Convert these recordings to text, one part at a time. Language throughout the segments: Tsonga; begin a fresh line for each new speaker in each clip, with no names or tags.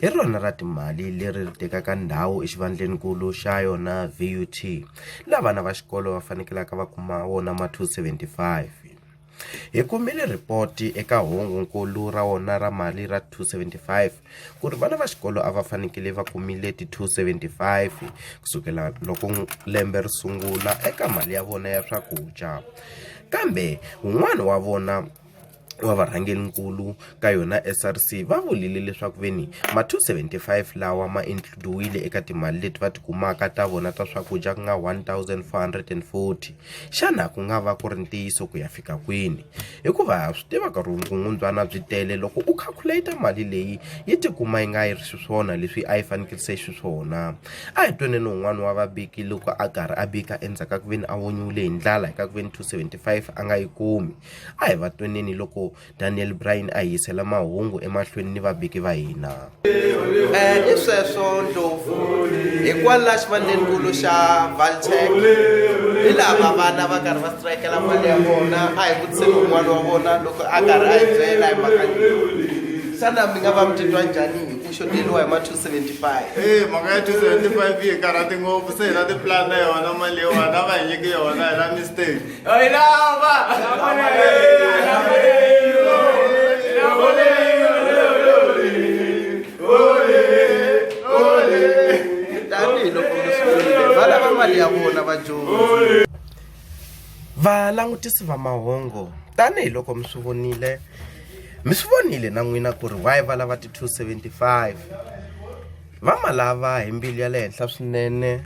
hi rona ra timali leri ri tekaka ndhawu exivandleni-nkulu xa yona VUT, la vana va xikolo va fanekelaka va kuma wona ma 275. Hi kumile ripoti eka hungu-nkulu ra wona ra mali ra 275 ku ri vana va xikolo a va fanekele va kumile ti 275 ku sukela loko lembe ri sungula eka mali ya vona ya swakudya kambe wun'wana wa vona wa varhangerinkulu ka yona SRC va vulile leswaku veni ma 275 lawa ma includiwile eka timali leti va tikumaka ta vona ta swakudya ku nga 1440 xana ku nga va ku ri ntiyiso ku ya fika kwini hikuva swi tivaka rungungundwana byi tele loko u calculate mali leyi yi tikuma yi nga yi ri xiswona leswi a yi fanekele se xiswona a hi twenene un'wana wa vabiki loko a karhi a bika endzhaku ka ku veni a vonyiwile hi ndlala hi ka ku veni 275 a nga yi kumi A hi va tweneni loko Daniel Bryan a hi yisela mahungu emahlweni ni vabiki va hina. Eh,
i sweswo ndlopfu hikwalaho xivandlenkulu xa valtec hi lava vana va karhi va strikela mali ya vona a hi vutiseni un'wana wa vona loko a karhi a hi byela hi mhaka xana mi nga va mi titwa njhani hi ku xoteriwa hi ma 275 e mhaka ya
275 yi karhati ngopfu se hi na tiplan na yona mali yona va hi nyiki yona hi na mistake
valangutisi va mahungu tanihiloko mi swi vonile mi swi vonile na n'wina ku ri why va lava ti 275 va ma lava hi mbilu ya le henhla swinene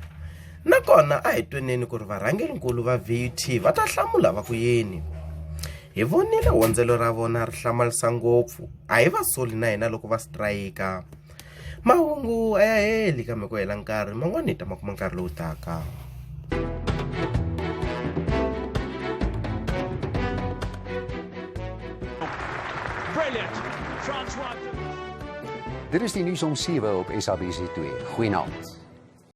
nakona a hi tweneni ku ri varhangerinkulu va vut va ta hlamula va ku yini hi vonile hondzelo ra vona ri hlamarisa ngopfu a hi va soli na hina loko va sitirayika mahungu a ya heli kambe ku hela nkarhi man'wani hi ta ma kuma nkarhi lowu taka
Dit is die nuus om 7 op SABC2. Goeienaand.